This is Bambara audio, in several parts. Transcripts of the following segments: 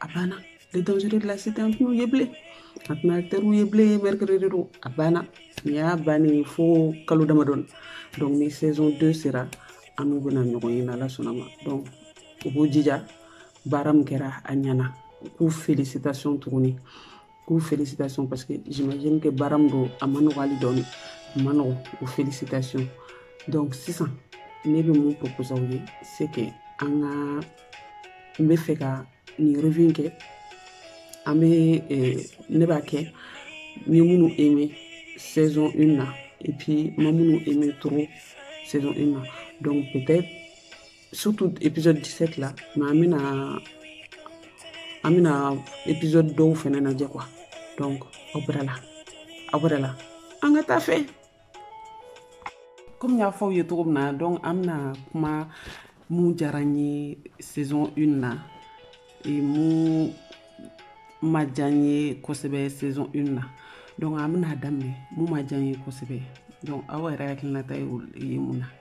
a banna les dangers de la cité an tɛn'u ye bilen an tɛna teriw ye bilen mercredi don a banna nin y'a bannen fo kalo damadɔni donc ni saison 2 sera an n'u bɛna ɲɔgɔn ye n'ala sɔnn'a ma donc u b'u jija baara min kɛra a ɲɛna u k'u félicitation tuguni k'u félicitation parce que j'imagine que baara min don a man nɔgɔ hali dɔɔni a man nɔgɔ o félicitation donc sisan ne bɛ mun proposer aw ye c'est que an ka n bɛ fɛ ka nin revue kɛ an bɛ ne b'a kɛ n ye minnu aimé saison une na et puis n ma minnu aimé trop saison une na donc peut-être surtout épisode 17 la mais an bɛna an bɛna épisode dɔw fɛnɛ lajɛ quoi donc aw bɛrɛ la aw bɛrɛ la an ka taa a fɛ comme n y'a fɔ aw ye cogo min na donc an bɛna kuma mun diyara n ye saison 1 na mun ma diya n ye kosɛbɛ saison 1 na donc an bɛna daminɛ mun ma diya n ye kosɛbɛ donc aw yɛrɛ hakilinata ye mun na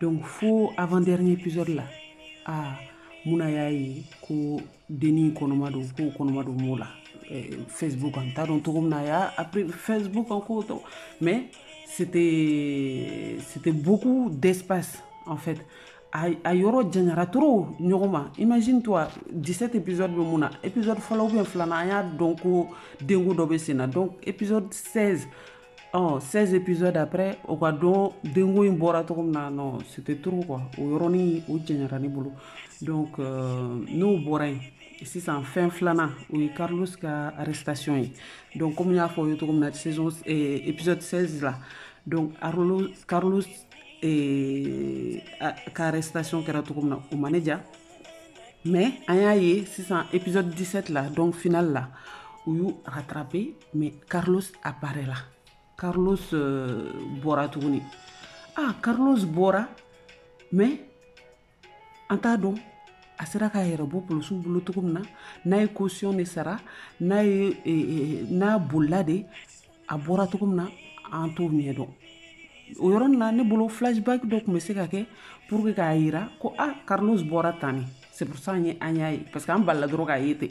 donc fo avant dernier épisode la ah muna y'a ye ko denni kɔnɔma don k'o kɔnɔma don m'o la eh, facebook an t'a dɔn cogo min na a y'a après facebook encore mais c'était c'était beaucoup d'espace en fait a, a yɔrɔ janyara trop ɲɔgɔn ma imagine toi 17 épisode bɛ min na épisode fɔlɔ ou bien filanan an y'a dɔn ko denko dɔ bɛ sen na donc épisode 16 ɔ 16 épisode après o k'a dɔn denko in bɔra cogo min na non c'était trop quoi o yɔrɔnin o janyara ne bolo donc euh, n'o bɔra yen sisan fɛn filanan o ye carlos ka arrestation ye donc comme n y'a fɔ aw ye cogo min na saison eh, épisode 16 la donc arlo carlos eh, a- ka arrestation kɛra cogo min na o ma ne ja mais an y'a ye sisan épisode 17 la donc final la u y'u rattraper mais carlos apparaît là carlos euh, bɔra tuguni ah carlos bɔra mais an t'a dɔn a sera k'a yɛrɛ bɔ polisiw bolo cogo min na n'a ye caution de sara n'a ye eh, eh, n'a bolila de a bɔra cogo min na an t'o ɲɛ dɔn o yɔrɔnin na ne bolo flashback dɔ tun bɛ se ka kɛ pour que k'a yira ko ah carlos bɔra tan ne c'est pour ça an ye an y'a ye parce que an balala dɔrɔn k'a ye ten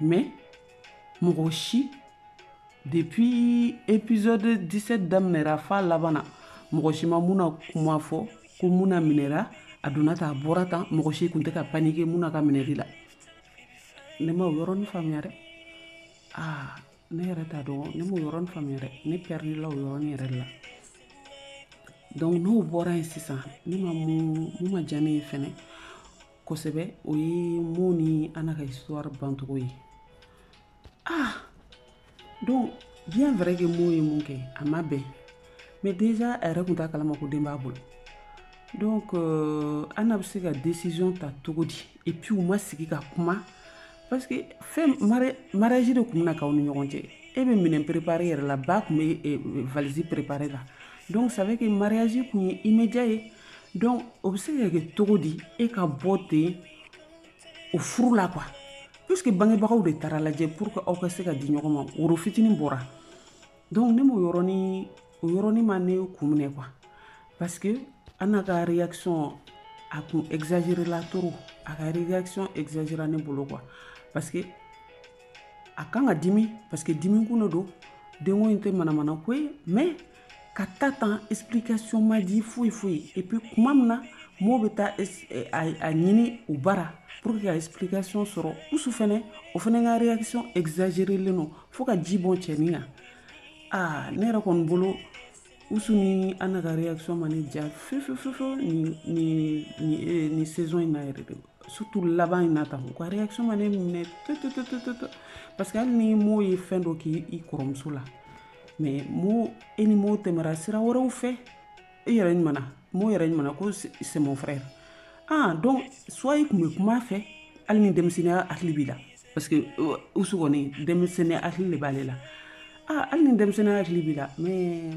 mais mɔgɔ si depuis épisode 17 daminɛra f'a laban na mɔgɔ si ma muna kuma fɔ ko muna minɛra a donna tan a bɔra tan mɔgɔ si kun tɛ ka paniquer muna ka minɛli la ne ma o yɔrɔnin faamuya dɛ aa ne yɛrɛ t'a dɔn ne m'o yɔrɔnin faamuya dɛ ne pɛridi la o yɔrɔnin yɛrɛ de la donc n'o bɔra yen sisan ne ma mun mun ma diya ne ye fɛnɛ kosɛbɛ o ye mo ni ana ka histoire bancogo ye ah donc bien vrai que mo ye min kɛ a ma bɛn mais déjà a yɛrɛ tun t'a kalama ko den b'a bolo donc euh, ana bɛ se ka décision ta cogo di et puis u ma sigi ka kuma parce que fɛn mariage de tun bɛna k'aw ni ɲɔgɔn cɛ e bɛ minɛn préparé yɛrɛ la ba tun bɛ valise préparé la donc ça veut que mariage tun ye immédiat ye donc o bɛ se ka kɛ cogo di e ka bɔ ten o furu la quoi puisque bangebagaw de taara lajɛ pour que aw ka se ka di ɲɔgɔn ma woro fitinin bɔra donc ne m'o yɔrɔnin o yɔrɔnin ma ne kun minɛ quoi parce que ana ka réaction a kun exagéré la trop a ka réaction exagéra ne bolo quoi parce que a kan ka dimi parce que dimi kun de don denko in tɛ manamana ko ye mais ka taa tan explication ma di foyi foyi et puis kuma min na mo bɛ taa eh, a ɲini u bara pour que ka explication sɔrɔ usu fɛnɛ o fɛnɛ ka réaction exagérelen don fo ka ji bɔn cɛnin kan aa ne yɛrɛ kɔni bolo usu ni ana ka réaction ma ne ja fefefefew ni ni ni eh, saison in na yɛrɛ de surtout laban in na tan u ka réaction ma ne minɛ tototototo parce que hali ni mo ye fɛn dɔ kɛ i kɔrɔmuso la mais mo e ni mo tɛmɛra sira wɛrɛw fɛ e yɛrɛ ɲumana mo yɛrɛ ɲumana ko c'est mon frère ah donc soit i kun bɛ kuma fɛ hali ni denmisɛnninya hakili b'i la parce que euh, usu kɔni denmisɛnninya hakili de b'ale la ah hali ni denmisɛnninya hakili b'i la mais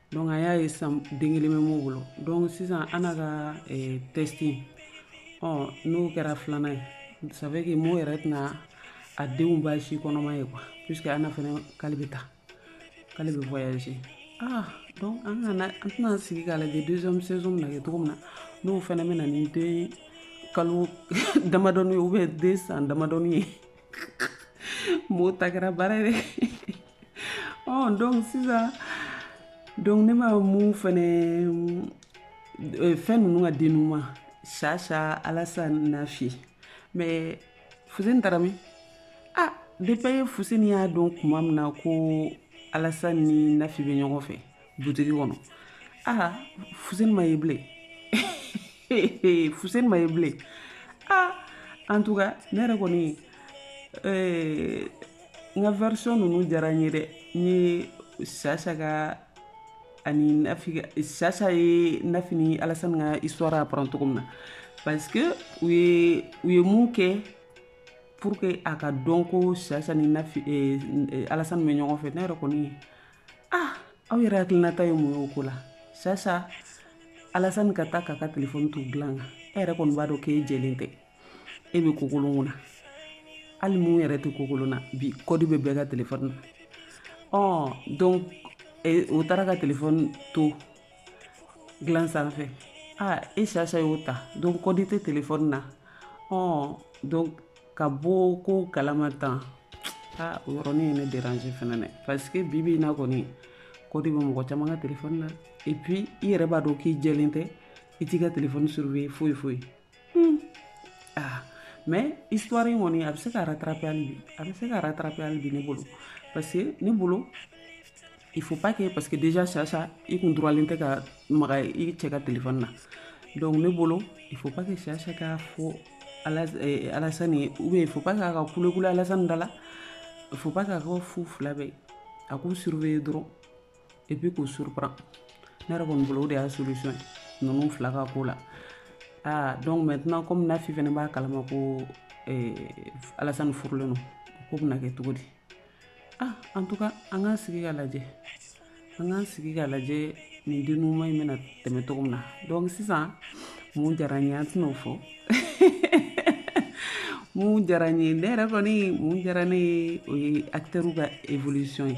donc an y'a ye sisan den kelen bɛ mo bolo donc sisan ana ka eh, test ɔ oh, n'o kɛra filanan ye ça veut que mo yɛrɛ tɛna a denw ba si kɔnɔma ye quoi puisque ana fɛnɛ k'ale bɛ taa k'ale bɛ voyager ah donc an kana an tɛna sigi k'a lajɛ deuxième saison bɛna kɛ cogo min na n'o fɛnɛ bɛ na ni den kalo damadɔni ye ou bien den san damadɔni ye mo ta kɛra baara ye dɛ ɔ donc sisan donc ne ma mun fɛnɛ euh, fɛn ninnu ka dénouement sasa alasani nafi mais fuseni taara min ah depuis fuseni y'a dɔn kuma min na ko alasani ni nafi bɛ ɲɔgɔn fɛ butigi kɔnɔ aa fuseni ma ye bilen fuseni ma ye bilen aa en tout cas ne yɛrɛ kɔni eh, n ka version ninnu diyara n ye dɛ n ye sasa ka ani nafi sasa ye nafi ni alasani ka histoire apprendre cogo min na parce que u ye u ye mun kɛ pour que a ka dɔn ko sasa ni nafi eh, eh, alasani bɛ ɲɔgɔn fɛ ne yɛrɛ kɔni ah aw yɛrɛ hakilinata ye mun ye o ko la sasa alasani ka taa k'a ka telefɔni t'u dilan kan e yɛrɛ kɔni b'a dɔn k'e jɛlen tɛ e bɛ kokolon kunna hali mun yɛrɛ tɛ kokolon na bi kɔdi bɛ bɛɛ ka telefɔni na ɔ donc o taara ka telefɔni to dilan sanfɛ aa e sasa y'o ta donc kɔdi tɛ telefɔni na ɔ donc ka bɔ ko kalama tan aa o yɔrɔnin ye ne déranger fɛnɛ dɛ parce que bi bi in na kɔni kɔdi bɛ mɔgɔ caman ka telefɔni na et puis i yɛrɛ b'a dɔn k'i jɛlen tɛ i t'i ka telefɔni surveiller foyi foyi Hmm. Ah, mais histoire in kɔni a bɛ se ka rattraper hali bi a bɛ se ka rattraper hali bi ne bolo parce que ne bolo il faut pas que parce que déjà sasa i kun droitlen tɛ ka maga i cɛ ka téléphone na donc ne bolo il faut pas que sasa k'a fɔ eh, alasani ye ou bien il faut pas k'a ka kulekule alasani da la il faut pas k'a ka fu fila bɛɛ a k'u surveiller dɔrɔn et puis k'u surprend ne yɛrɛ kɔni bolo o de y'a solution ye ninnu fila ka ko la aa donc maintenant comme nafi fɛnɛ b'a kalama ko eh, alasani furulen no ko bɛna kɛ cogo di ah en tout cas an k'an sigi k'a lajɛ an k'an sigi k'a lajɛ nin dénouement in bɛna tɛmɛ cogo min na donc sisan mun diyara n ye an tɛn'o fɔ mun diyara n ye ne yɛrɛ kɔni mun diyara ne ye o ye acteurw ka évolution ye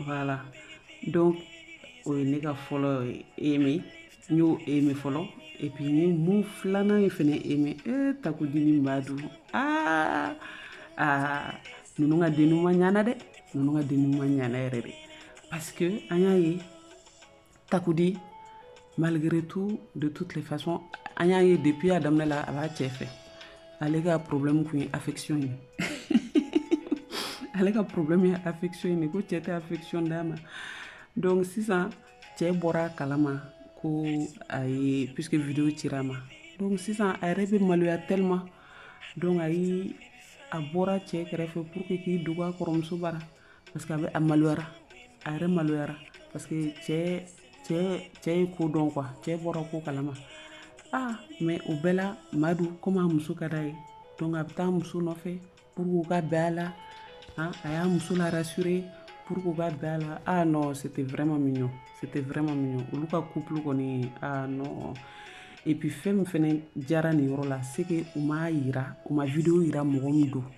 voilà donc o ye ne ka fɔlɔ aimé n y'o aimé fɔlɔ et puis n ye mun filanan ye fɛnɛ aimé e eh, takudi ni madu aa aa ninnu ka dénouement ɲana dɛ ninnu ka dénouement ɲana yɛrɛ de parce que an y'a ye takudi malgré tout de toutes les façons an y'a ye depuis a daminɛ la a b'a cɛ fɛ ale ka problème kun ye affection ye ale ka problème ye affection ye ko cɛ tɛ affection d'a ma donc sisan cɛ bɔra a kalama ko a ye puisque video cira a ma donc sisan a yɛrɛ bɛ maloya tellement donc a yi a bɔra cɛ kɛrɛfɛ pour que k'i dogo a kɔrɔmuso bara parce que a bɛ a maloyara a yɛrɛ maloyara parce que cɛ cɛ cɛ ye ko dɔn quoi cɛ bɔra ko kalama ah mais o bɛɛ la madu komi a muso ka d'a ye donc a bɛ taa muso nɔfɛ pour que u ka bɛn a la ah, a y'a muso la rassurer pour que u ka bɛn a la ah non c'était vraiment mignon c'était vraiment mignon olu ka couple kɔni ah non et puis fɛn min fɛnɛ diyara nin yɔrɔ la c'est que u m'a yira u ma video yira mɔgɔ min don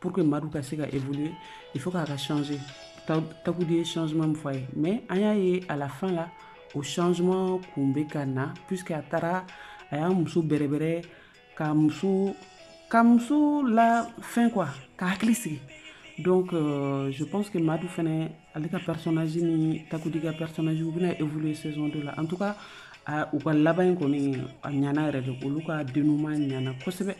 pour que madu ka se ka évoluer il faut k'a ka changer takudi ye changement min fɔ a ye mais an y'a ye à la fin la o changement kun bɛ ka na puisque a taara a y'a muso bɛrɛbɛrɛ ka muso ka muso la fɛn quoi ka hakili sigi donc euh, je pense que madu fɛnɛ ale ka personnage ni takudi ka personnage u bɛna évoluer saison 2 la en tout cas u ka laban in kɔni a ɲana yɛrɛ de olu ka dénouement ɲana kosɛbɛ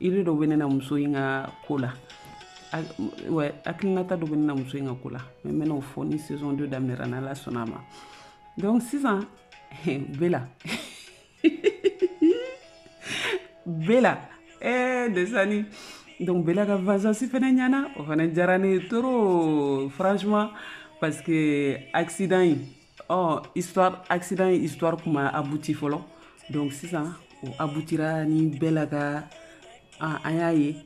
idée dɔ bɛ ne na muso in ka ko la hakilinata dɔ bɛ ne na muso in ka ko la mais n bɛna o fɔ ni saison 2 daminɛra n'ala sɔnna a ma donc sisan bela bela eh, desani donc bela ka vengeance fana ɲana o fana diyara ne ye trop franchement parce que accident in ɔ histoire accident in histoire kun ma abouti fɔlɔ donc sisan o aboutira ni bela ka an y'a ye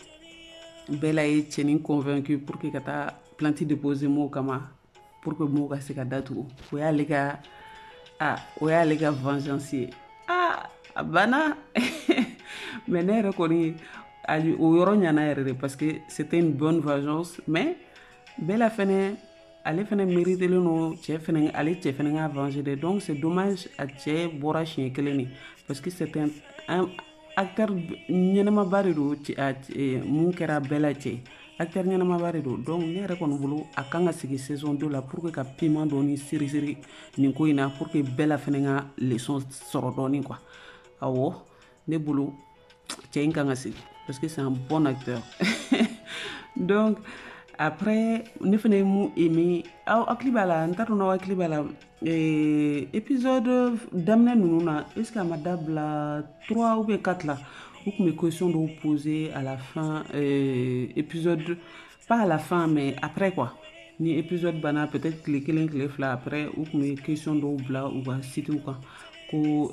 bela ye cɛnin convaincu pour que ka taa plainte déposer mɔgɔw kama pour que mɔgɔw ka se ka datugu o y'ale ka a o y'ale ka vengeance ye a a banna mais ne yɛrɛ kɔni o yɔrɔ ɲana yɛrɛ de parce que c'était une bonne vengeance mais bela fɛnɛ ale fɛnɛ méritelen don cɛ fɛnɛ ale cɛ fɛnɛ ka venger dɛ donc c'est dommage a cɛ bɔra siɲɛ kelen de parce que c'est un, un acteur ɲɛnamaba de don mun kɛra bela cɛ acteur ɲɛnamaba de don donc ne yɛrɛ kɔni bolo a kan ka segin saison 2 la pour que ka piment dɔɔni seriseri nin ko in na pour que bela fɛnɛ ka leçon sɔrɔ dɔɔni quoi awɔ ne bolo cɛ in kan ka segin parce que c'est un bon acteur donc après ne fɛnɛ ye mun aimé aw hakili b'a la n t'a dɔn n'aw hakili b'a la eh, épisode daminɛ ninnu na est ce que a ma dabila trois ou bien quatre la u kun bɛ question dɔw poser à la fin euh, épisode pas à la fin mais après quoi ni épisode banna peut être tile kelen tile fila après u kun bɛ question dɔw bila u ka site kan ko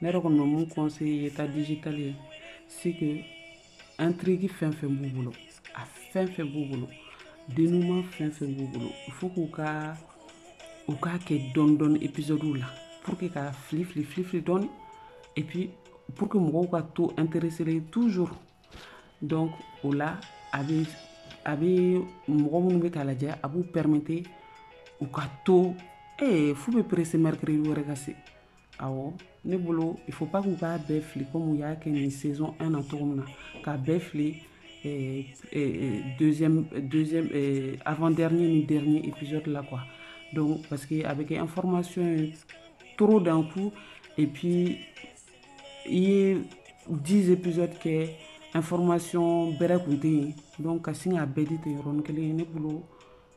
ne yɛrɛ kɔni bɛ mun conseiller yeta digital ye c'est que intrigue fɛn fɛn b'u bolo a fɛn fɛn b'u bolo dénouement fɛn fɛn b'u bolo il faut k'u ka u k'a kɛ dɔɔni dɔɔni épisodew la pour que ka fili fili fili fili dɔɔni et puis pour que mɔgɔw ka to intéressé toujours donc o la a bɛ a bɛ mɔgɔ minnu bɛ k'a lajɛ a b'u permettre u ka to ee f'u bɛ presser mercredi wɛrɛ ka se awɔ ne bolo il faut pas k'u k'a bɛɛ fili komi u y'a kɛ nin saison 1 na cogo min na k'a bɛɛ fili euh, euh, deuxième deuxième euh, avant dernier ni dernier épisode la quoi donc parce que a bɛ kɛ information ye trop d'un coup et puis i ye 10 épisodes kɛ information bɛrɛ kun tɛ yen donc ka sin k'a bɛɛ di ten yɔrɔnin kelen ne bolo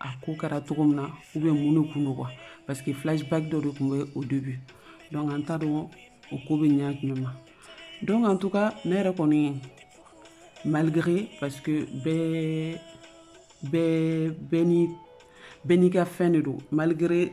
a ko kɛra cogo min na ou bien mun de kun don quoi parce que flashback dɔ de tun bɛ au début donc an t'a dɔn o ko bɛ ɲɛ jumɛn ma donc en tout cas ne yɛrɛ kɔni malgré parce que bɛɛ bɛɛ bɛɛ ni bɛɛ n'i ka fɛn de don malgré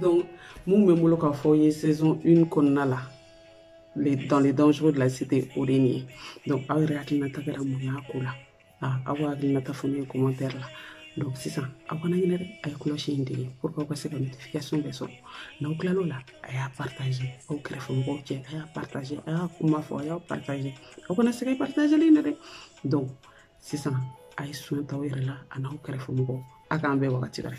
donc mun bɛ n bolo k'a fɔ ye saison une kɔnɔna la dans les dangereux de la cité o de nin ye donc aw yɛrɛ hakilinata kɛra mun y'a ko la aw ka hakilinata fɔ ne ye commentaire la donc sisan aw kana ɲinɛ dɛ a ye cloche in digi pour que aw ka se ka notification bɛɛ sɔrɔ n'aw tilal'o la a y'a partage aw kɛrɛfɛ mɔgɔw cɛ a y'a partage a y'a kuma fɔ a y'a partage aw kana sɛgɛn partageli in na dɛ donc sisan a ye soin ta aw yɛrɛ la a n'aw kɛrɛfɛ mɔgɔw a k'an bɛn wagati wɛrɛ